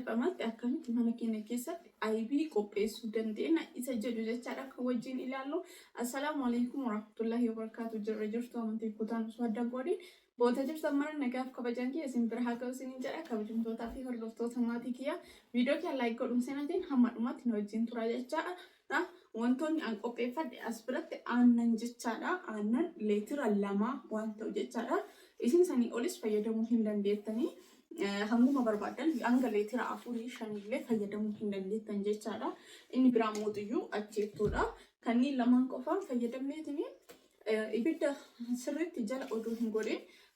salphamaatti akkamitti mana keenya keessatti aybii qopheessuu dandeenya isa jedhu jechaadha akka wajjin ilaallu assalaamu alaikum warahmatullahi wabarakaatu jirra jirtu amantii kutaan osoo adda godhin boota jirtan mara nagaaf kabajaan kiyya isin bira haa ga'u isinin jedha kabajamtootaa fi hordoftoota maatii kiyya viidiyoo kiyya laayik godhuun seenatiin hamma dhumaatti na wajjin tura jechaadha dha. Wantoonni an qopheeffadhe as biratti aannan jechaa dha. Aannan leetira lama waan ta'u jechaa dha. Isin sanii olis fayyadamuu hin dandeettanii. Hanguma barbaaddan hanga leetira afurii shanillee fayyadamuu hin dandeettan jechaa dha. Inni biraa mootiyyuu acheettoo dha. Kanneen lamaan qofaan fayyadamneetini ibidda sirriitti jala odoo hin godhin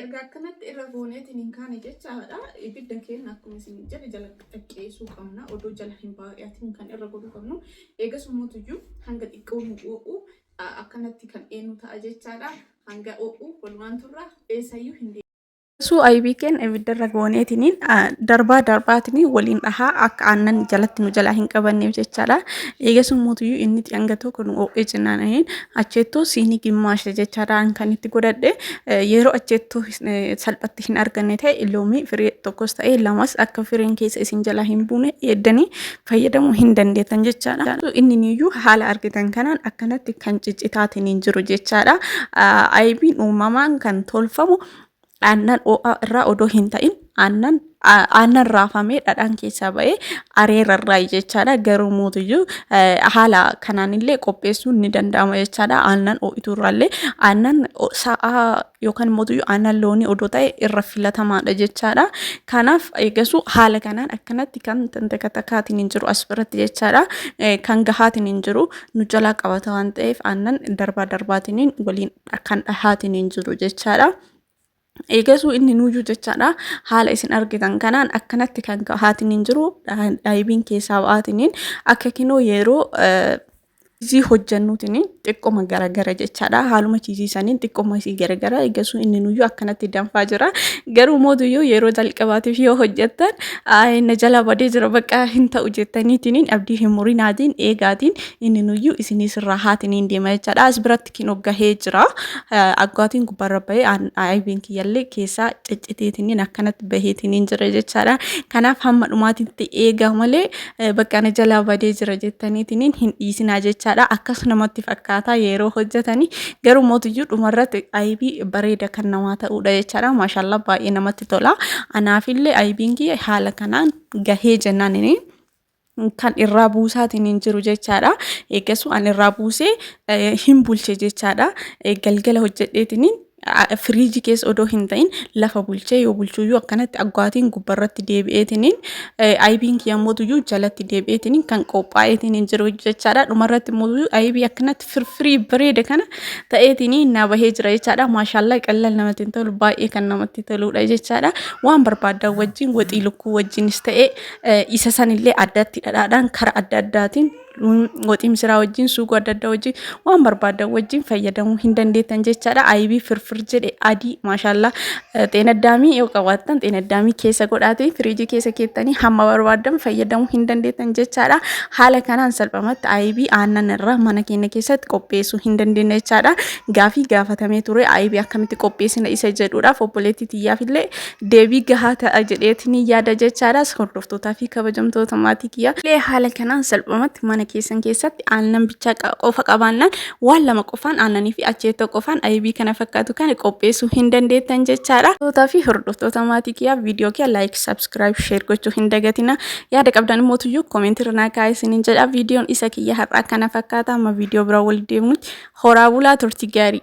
erga akkanatti irra gooneetiin hin kaane jechaadha ibidda keenya akkuma isin jedhe jala qaqqeessuu qabna odoo jala hin baay'atiin kan irra godhuu qabnu eegas mootuyyuu hanga xiqqoo nu oo'u akkanatti kan eenyu ta'a jechaadha hanga oo'u walumaan turra eessayyuu hin Suu aybii keen ibiddarra gooneetiniin darbaa darbaatiin waliin dhahaa akka aannan jalatti nu jalaa hin qabanneef jechaadha. Eegasuun mootiyyuu inni itti hanga tokko nu oo'ee jennaan anin acheettoo siinii gimmaasha jechaadhaan kan itti godhadhe yeroo acheettoo salphatti hin arganne ta'e loomii firii tokkos ta'e lamas akka firiin keessa isin jalaa hin buune eeddanii fayyadamuu hin dandeettan jechaadha. Inni niyyuu haala argitan kanaan akkanatti kan ciccitaatiin hin jiru jechaadha. Aybiin uumamaan kan tolfamu aannan oo'aa irraa odoo hin ta'in aannan aannan raafamee dhadhaan keessaa ba'ee areera irraa jechaadha garuu mootiyyuu haala kanaan illee qopheessuun ni danda'ama jechaadha aannan oo'ituu irraallee aannan sa'aa yookaan mootiyyuu aannan loonii odoo ta'e irra filatamaadha jechaadha kanaaf eegasuu haala kanaan akkanatti kan takattakaatiin hin jiru as biratti jechaadha kan gahaatiin hin jiru nu jalaa qabata waan ta'eef aannan darbaa darbaatiin waliin kan dhahaatiin hin jiru jechaadha. Eegasuu inni nuyyuu jechaadha haala isin argitan kanaan akkanatti kan dhahaatiin hin jiru dhaayibiin keessaa ba'aatiin akka kinoo yeroo chiizii hojjannuutiin xiqqoma garagara jechaadha haaluma chiizii saniin xiqqoma isii garagara eegasuu inni nuyyuu akkanatti danfaa jira garuu mootuyyuu yeroo jalqabaatiif yoo hojjattan na jala badee jira bakka hin ta'u jettaniitiin abdii hin murinaatiin eegaatiin inni nuyyuu isinii sirraa haatiin hin deema jechaadha as biratti kinoo gahee jira aggaatiin gubbarra bahee ayibiin kiyyallee keessaa cicciteetiniin akkanatti baheetiniin jira jechaadha kanaaf hamma dhumaatitti eegaa malee bakka na jalaa badee jira jettaniitiniin hin dhiisinaa jechaadha akkas namatti fakkaataa yeroo hojjetanii garuu mootiyyuu dhumarratti ayibii bareeda kan namaa ta'uudha jechaadha maashaallaa baay'ee namatti tola anaafillee ayibiin kiyya haala kanaan gahee jennaaniniin kan irraa buusaatiin hin jiru jechaadha. Eegasuu an irraa buusee hin bulche jechaadha. Galgala hojjedheetiin firiijii keessa odoo hin ta'in lafa bulchee yoo bulchuyyuu akkanatti aggaatiin gubbarratti deebi'eetiin ayibiin kiyyammootuyyuu jalatti deebi'eetiin kan qophaa'eetiin hin jiru jechaadha. Dhumarratti immoo ayibii akkanatti firfirii bareeda kana ta'eetiin na bahee jira jechaadha. Maashaallaa qallal namatti hin tolu baay'ee kan namatti toludha jechaadha. Waan barbaaddan wajjin waxii lukkuu wajjinis ta'ee isa sanillee addatti dhadhaadhaan kara adda addaatiin woxii misiraa wajjin suugoo adda addaa wajjin waan barbaadan wajjin fayyadamuu hin dandeettan jechaadha. Ayibii firfir jedhe adii maashaallaa xeenaddaamii yoo qabaattan xeenaddaamii keessa godhaatee firiijii keessa keettanii hamma barbaadan fayyadamuu hin dandeettan jechaadha. Haala kanaan salphamatti ayibii aannan irraa mana keenya keessatti qopheessuu hin dandeenya jechaadha. Gaafii gaafatamee ture ayibii akkamitti qopheessina isa jedhuudhaaf obboleettii tiyyaaf illee deebii gahaa ta'a jedheetiin yaada jechaadhaas hordoftootaa fi kabajamtoota maatii kiyyaa. Illee haala kanaan salphumatti mana keessan keessatti aannan bichaa qofa qabaannaan waan lama qofaan aannanii fi acheettoo qofaan aybii kana fakkaatu kana qopheessuu hin dandeettan jechaadha. Tootaa fi hordoftoota maatii kiyyaa viidiyoo kiyya laayik sabskiraayib sheer gochuu hin dagatina. Yaada qabdan immoo tuyyuu koomentii irraa kaa'aa isiniin jedha. Viidiyoon isa kiyya har'aa kana fakkaata amma viidiyoo biraa walitti deemuutti horaa bulaa turtii gaarii.